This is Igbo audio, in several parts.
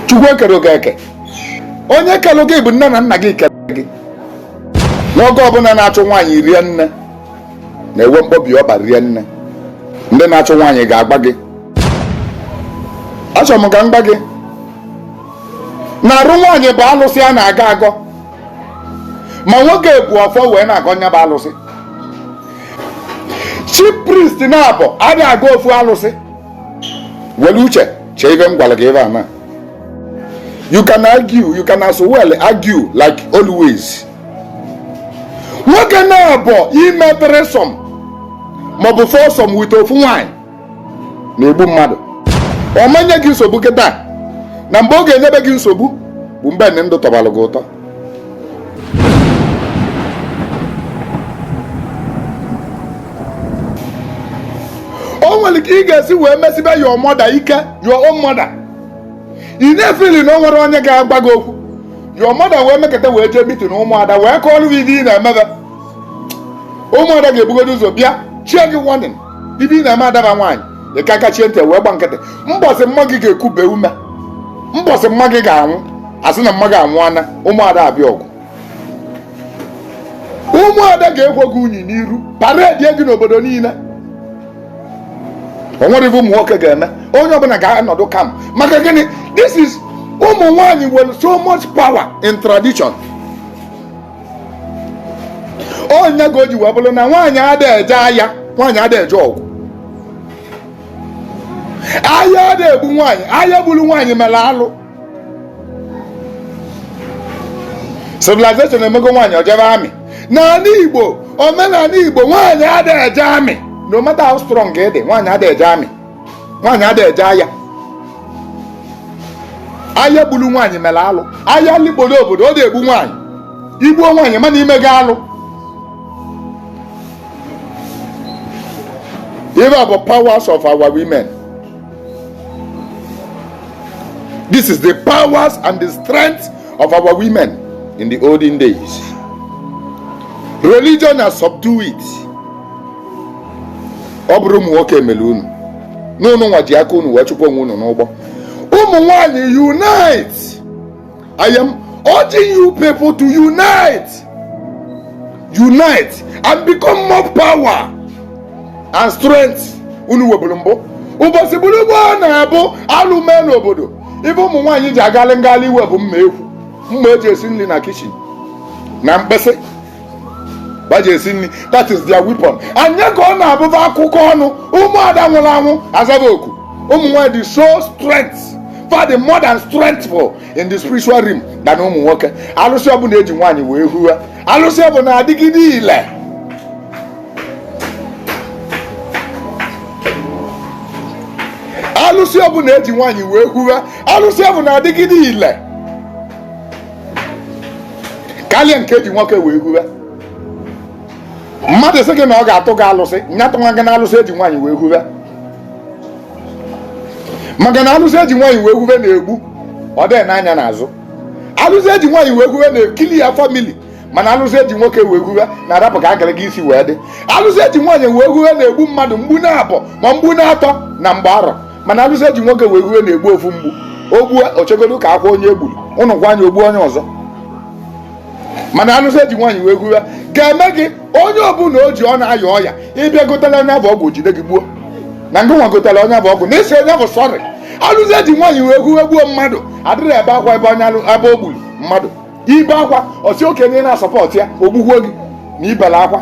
chukwu ekerọ gị eke onye kelụ gị bụ nne na nna gị kere gị nwoke ọbụla na-achụ nwaanyị rie nne na-enwe mkpọbi ọkpa rie nne ndị na-achụ nwaanyị ga-agwa gị achọrọ m ka m gwa gị na arụ nwaanyị bụ alụsị a na-agọ agọ ma nwoke bu ọfọ wee na-agọ nya bụ alụsị chief priest naabọ ada agọ ofu alụsị were uche chee ive m gwara gị ebe a na you can argue you can as well argue like always nwoke naabọ ime threesome maọbụ foursome with ofu nwanyị na-egbu mmadụ ọ ma-enye gị nsogbu kịta na mgbe ọ ga-enyebe gị nsogbu bụ mgbe ndụ tọbalụ gị ụtọ o nwere ka ị ga-esi wee mesibe your mother ike your own mother ị na-efili na o nwerọ onye ga-agwa gị okwu your mother wee mekata wee jee meeting ụmụada wee kọọlụ gị ihe ị na-emebe ụmụada ga-ebugodo ụzọ bịa chie gị warning ive ị na-eme adaba nwaanyị ị ka kachie ntị wee gba nkịtị mbọsị mma gị ga-ekube ume mbọsị mma gị ga-anwụ a sị na mma gị anwụọna ụmụada abịa ọgụ ụmụada ga-ekwo gị unyi n'iru paredi gị n'obodo niile o nwerọ ive ụmụ nwoke ga-eme onye ọbụla ga-anọdụ calm maka gịnị this is ụmụ nwaanyị nwere so much power in tradition ọ ya ka o ji wee bụrụ na nwaanyị ada eje aya nwaanyị ada eje ọgụ aya ada egbu nwaanyị aya gburu nwaanyị mere alụ civilization emego nwaanyị o jebe army n'anị igbo omenanị igbo nwaanyị ada eje army no matter how strong ị dị nwaanyị ada eje army nwaanyị ada eje aya aya gburu nwaanyị mere alụ aya likporo obodo ọ da egbu nwaanyị i gbuo nwaanyị mana i mego alụ ive bụ powers of our women this is the powers and the strength of our women in the olden days religion has subdued it ọ bụrọ ụmụ nwoke mere unu na unu nwa ji aka unu wee chụpụ onwe unu n'ụgbọ ụmụ nwanyị unite I am urging you people to unite unite and become more power and strength unu nweburu mbụ ụbọchị bụrụ gboo na ọ bụ alụ mee n'obodo ive ụmụ nwaanyị ji agalị ngalị iwe bụ mma ekwu mma e ji esi nri na kitchen na mkpesị ba ji esi nri that is their weapon anya ka ọ na-abụba akụkọ ọnụ ụmụada nwụrụ anwụ azaba oku ụmụ nwaanyị dị so strength far the more than strengthful in the spiritual realm than ụmụ nwoke alụsị ọbụla eji nwaanyị wee hue alụsị bụ na-adịgide ile alụsị ọbụla eji nwaanyị wee hue alụsị bụ na-adịgide ile karịa nke eji nwoke wee hue mmadụ sị gị na ọ ga-atụ gị alụsị nya atụnwa gị na alụsị eji nwaanyị wee hue maka na alụsị eji nwaanyị wee hue na-egbu ọ dịghị ene anya n'azụ alụsị eji nwaanyị wee hue na-eclear family mana alụsị eji nwoke wee hue na-arapụ ka akara gị isi wee dị alụsị eji nwaanyị wee hue na-egbu mmadụ mgbu na-abọ ma mgbu na-atọ na mgba arọ mana alụsị eji nwoke wee hue na-egbu ofu mgbu o gbuo o chegodo ka akwaa onye egburu ụnụ gwa anya o gbuo onye ọzọ mana alụsị eji nwaanyị wee hue ga-eme gị onye ọbụla o ji ọ na-aya ọya ị bịa gotela onye bụ ọgwụ jide gị gbuo na ngị nwa gotela onye bụ ọgwụ na ị sị onye bụ sorry alụsị eji nwaanyị wee hue gbuo mmadụ adịrọ ebe akwa ebe onye ebe o gburu mmadụ i bee akwa ọ sị okenye na-asupport ya o gbukwuo gị na i bela akwa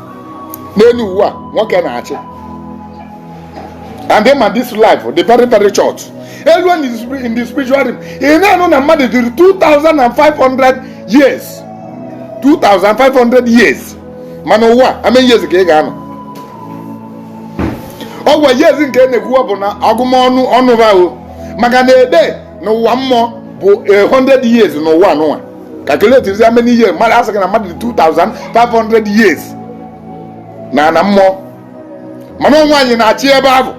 n'elu ụwa nwoke na-achị and ma this life dị very very short elu in the spiri- in the spiritual realm ị na-anụ na mmadụ dịrị 2500 years 2500 years mana ụwa how many years ka ị ga-anọ ọ kwa years nke na-ekwuwa bụ na agụmọnụ ọnụ ahụ maka na a day n'ụwa mmụọ bụ 100 years n'ụwa nwa calculate how many years mmadụ asị gị na mmadụ 2500 years n'ana mmụọ mana ọ nwaanyị na-achị ebe ahụ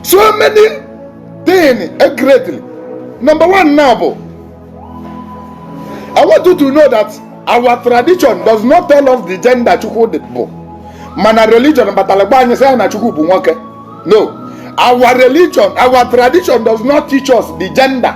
so many things greatly number one now bụ I want you to know that our tradition does not tell us the gender Chukwu bụ mana religion batara gwa anyị sị ya na Chukwu bụ nwoke no our religion our tradition does not teach us the gender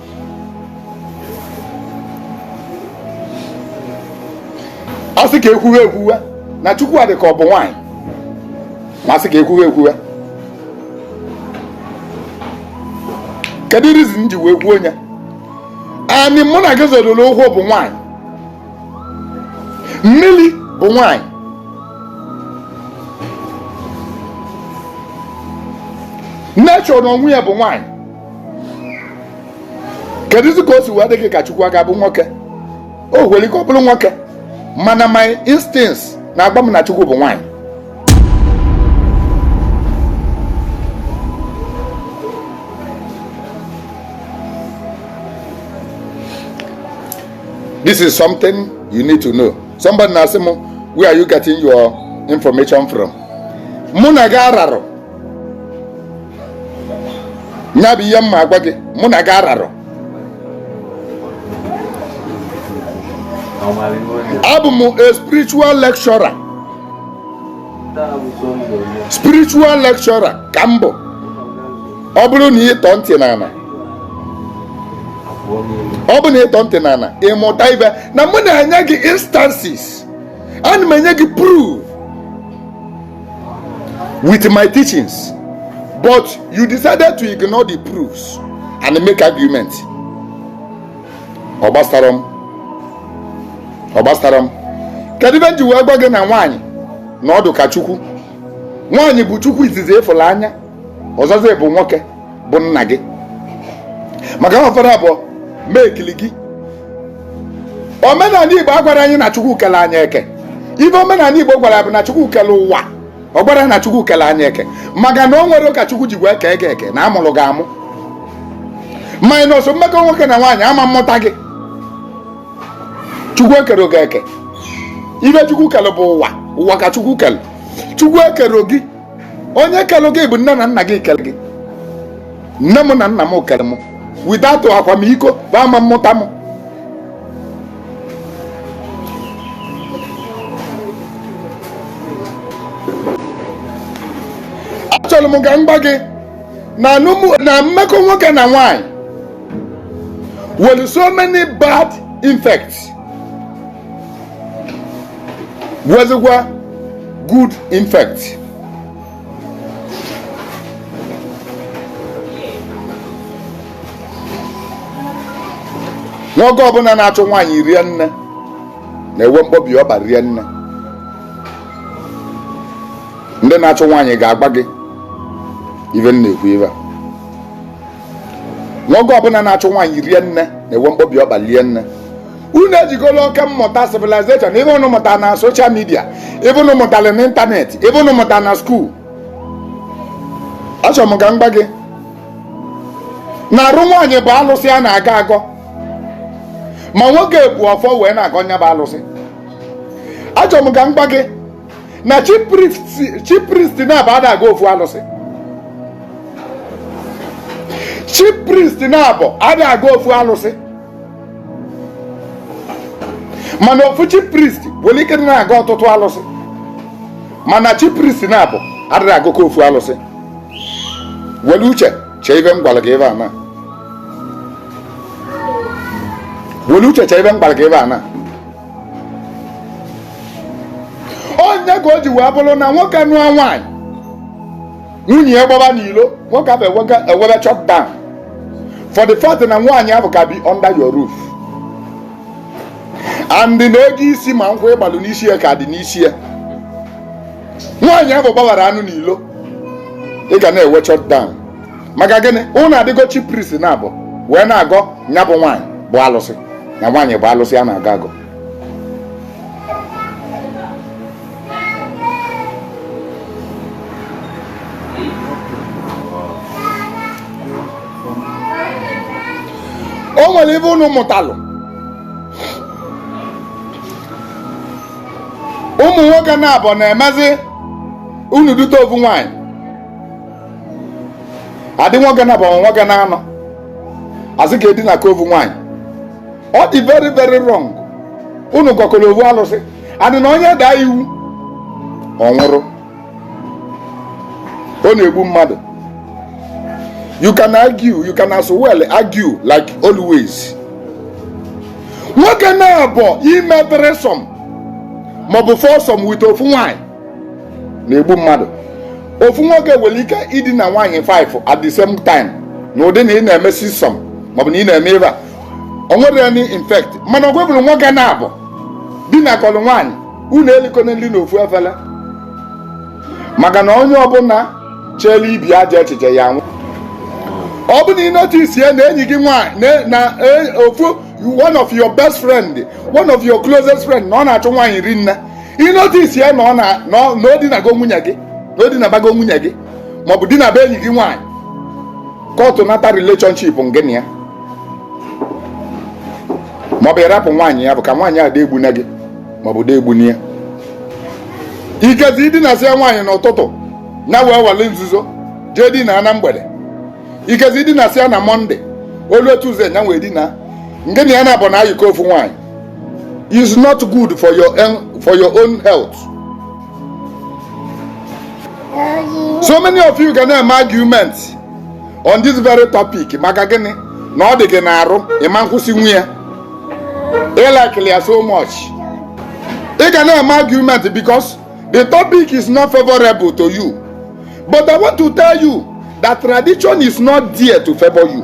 a sị ka ekwuwe ekwuwe na chukwu adị ka ọ bụ nwaanyị ma a sị ka ekwuwe ekwuwe kedu reason m ji wee kwuo nya anị mụ na gị zodoro ụkwụ bụ nwaanyị mmiri bụ nwaanyị nature na onwe ya bụ nwaanyị kedụzi ka o si wee dị gị ka chukwu ga-abụ nwoke o nwere ike ọ bụrụ nwoke mana my instincts na-agwa m na chukwu bụ nwaanyị this is something you need to know somebody na-asị m where are you getting your information from mụ na gị ararọ ya bụ ihe m ma agwa gị mụ na gị ararọ abụ m a spiritual lecturer spiritual lecturer ka m bụ ọ bụrụ na ị tọọ ntị n'ala ọ bụ na ị tọọ ntị n'ala ị mụta ive na mụ na-enye gị instances ana m enye gị proof with my teachings but you decided to ignore the proofs and make argument ọ gbasarọ m ọ gbasarọ m kedu ive m ji wee gwa gị na nwaanyị na ọ dụ ka chukwu nwaanyị bụ chukwu izizi ị fụlụ anya ọzọzị bụ nwoke bụ nna gị maka na fa naabọ mekili gị omenala igbo agwarọ anyị na chukwu kele anyị eke ive omenala igbo gwara bụ na chukwu kele ụwa ọ gwarọ na chukwu kele anyị eke maka na o nwerọ ka chukwu ji wee kee gị eke na a mụrụ gị amụ minus mmekọ nwoke na nwaanyị a ma amụta gị chukwu ekerọ gị eke ive chukwu kele bụ ụwa ụwa ka chukwu kele chukwu ekerọ gị onye kelụ gị bụ nne na nna gị kele gị nne m na nna m kele m without akwamiko bụ a ma amụta m achọrọ m ka m gwa gị na anụmụ- na mmekọ nwoke na nwanyị nwere so many bad effects nwezikwa good effects nwoke ọbụla na-achọ nwaanyị rie nne na-enwe mkpọbi ọba rie nne ndị na-achọ nwaanyị ga-agwa gị ive m na-ekwu ebe a nwoke ọbụla na-achọ nwaanyị rie nne na-enwe mkpọbi ọba rie nne unu ejikọla oke mmụta civilization ive unu mụtara na social media ive unu mụtara na internet ive unu mụtara na school achọrọ m ka m gwa gị na arụ nwaanyị bụ alụsị a na-agọ agọ ma nwoke bụ ọfọ wee na-agọ nya bụ alụsị achọrọ m ka m gwa gị na chief priest naabọ adị agọ ofu alụsị chief priest naabọ adị agọ ofu alụsị mana ofu chief priest nwere ike na-agọ ọtụtụ alụsị mana chief priest naabọ adịrọ agọkọ ofu alụsị were uche chee ive m gwara gị ebe a na were uche chee ive m gwara gị ebe a na ọ nya ka o ji wee bụrụ na nwoke nụọ nwaanyị nwunye ya gbaba n'ilo nwoke ahụ enwebe shut down for the fact na nwaanyị ahụ ka bi under your roof and na ego isi ma nkwụ ị gbalụ n'isi ya ka dị n'isi ya nwaanyị ahụ gbawara anụ n'ilo ị ga na-enwe shut down maka gịnị unu adịgo chief priest naabọ wee na-agọ nya bụ nwaanyị bụ alụsị na nwaanyị bụ alụsị a na-agọ agọ o nwere ive unu mụtalụ ụmụ nwoke naabọ na-emezi unu dute ofu nwaanyị adị nwoke naabọ nwoke naanọ a sị ka e dinakọ ofu nwaanyị ọ dị very very wrong unu gọkọrọ ovu alụsị and na onye daa iwu ọ nwụrụ ọ na-egbu mmadụ you can argue you can as well argue like always nwoke naabọ ime threesome maọbụ foursome with ofu nwanyị na-egbu mmadụ ofu nwoke nwere ike idina nwaanyị 5 at the same time na ụdị na ị na-eme sixsome maọbụ na ị na-eme ive a o nwerọ any effect mana ọ wee bụrụ nwoke naabọ dinakọlụ nwaanyị unu elikọna nri n'ofu efere maka na onye ọbụla chere ibi aja echiche ya nwụ ọ bụ na ị notice ya na enyi gị nwaanyị na e, ofu one of your best friend one of your closest friend na ọ na-achụ nwaanyị rinne ị notice ya na ọ dinago nwunye gị na ọ dinabago nwunye gị maọbụ dinaba enyi gị nwaanyị kọtụ nata relationship ngị na ya maọbụ ịrapụ nwaanyị ya bụ ka nwaanyị a dị egbuna gị maọbụ dị egbuna ya ikezi dinasịa nwaanyị n'ụtụtụ na wee wale nzuzo jee dina na mgbede ikezi dinasịa ya na Monday o lu Tuesday nya wee dina ngị na ya naabọ na-ayịkọ ofu nwaanyị is not good for your own health so many of you ga na-eme argument on this very topic maka gịnị na ọ dị gị n'arụ ị ma nkwụsịnwu ya ị likelị ya so much ị ga na-eme argument because the topic is not favorable to you but i want to tell you that tradition is not there to favor you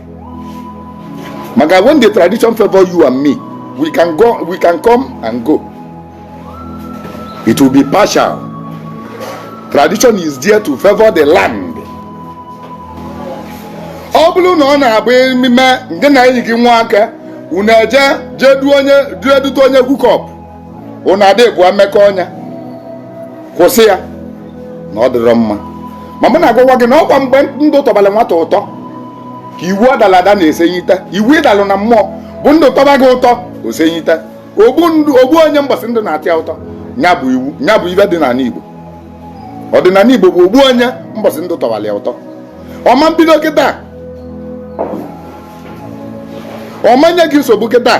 maka when the tradition favor you and me we can come and go it will be partial tradition is there to favor the land ọ bụrụ na ọ na-abụ ememe ngị na enyi gị nwoke unu eje jee duo jee dute onye hookup unu ada ebua mmekọ onye kwụsị ya na ọ dịrọ mma ma mụ na-agwa gị na ọkwa mgbe ndụ tọbalụ nwata ụtọ ka iwu adala ada na-esenyite iwu ị dalụ na mmụọ bụ ndụ tọba gị ụtọ o senyite ogbu onye mbọsị ndụ na-atọ ya ụtọ nya bụ iwu nya bụ ive dị n'anị Igbo ọdịnanị Igbo bụ ogbu onye mbọsị ndụ tọbalụ ya ụtọ ọ ma mbido kịta ọ ma nye gị nsogbu kịta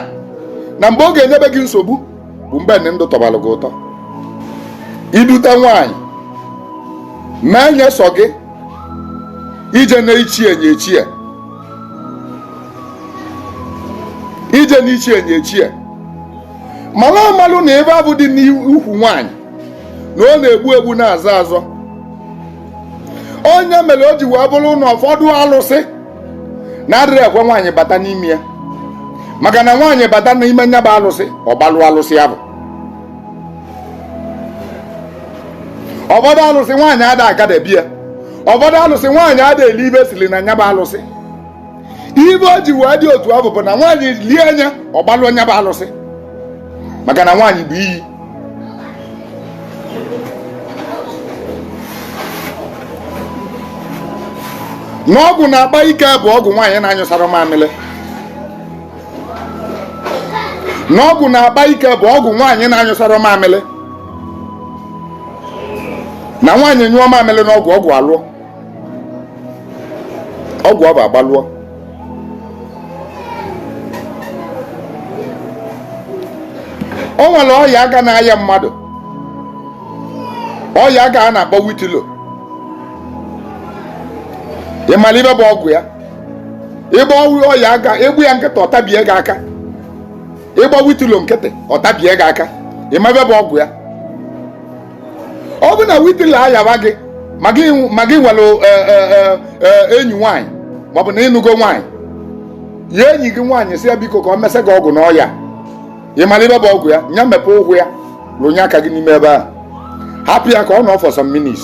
na mgbe ọ ga-enyebe gị nsogbu bụ mgbe ndụ tọbalụ gị ụtọ i dute nwaanyị mee nye sọ gị ije na ichie nye ichie ije na ichie nye ichie malụ amalụ na ive ahụ dị n'ukwu nwaanyị na ọ na-egbu egbu na-azọ azọ ọ nya mere o ji wee bụrụ na ụfọdụ alụsị na-adịrọ ekwe nwaanyị bata n'ime ya maka na nwaanyị bata n'ime nya bụ alụsị ọ gbalụ alụsị ahụ ụfọdụ alụsị nwaanyị ada agadebe ya ụfọdụ alụsị nwaanyị ada eli ive e sili na nya bụ alụsị ive o ji wee dị otu ahụ bụ na nwaanyị lie nya ọ gbalụ nya bụ alụsị maka na nwaanyị bụ iyi na ọgwụ na-agba ike bụ ọgwụ nwaanyị na-anyụsarọ mamịrị na ọgwụ na-agba ike bụ ọgwụ nwaanyị na-anyụsarọ mamịrị na nwaanyị nyụọ mamịrị n'ọgwụ ọgwụ alụọ ọgwụ ọ bụ agbalụọ o nwere ọya aga na-aya mmadụ ọya aga a na-akpọ witilo ị mara ibe bụ ọgwụ ya ịgba ọwụ ọya aga Igbo ya nkịta ọtabie gị aka Igbo witilo nkịta ọtabie gị aka ị ma ibe bụ ọgwụ ya ọ bụ na witilo ayawa gị ma gị ma gị nwere e, e, e, enyi nwaanyị maọbụ na ị nụgo nwaanyị ya enyi gị nwaanyị sị ya biko ka o mesa gị ọgwụ n'ọya ị mara ibe bụ ọgwụ ya nya mepe ụkwụ ya rụnye aka gị n'ime ebe a hapụ ya ka ọ nọ for some minutes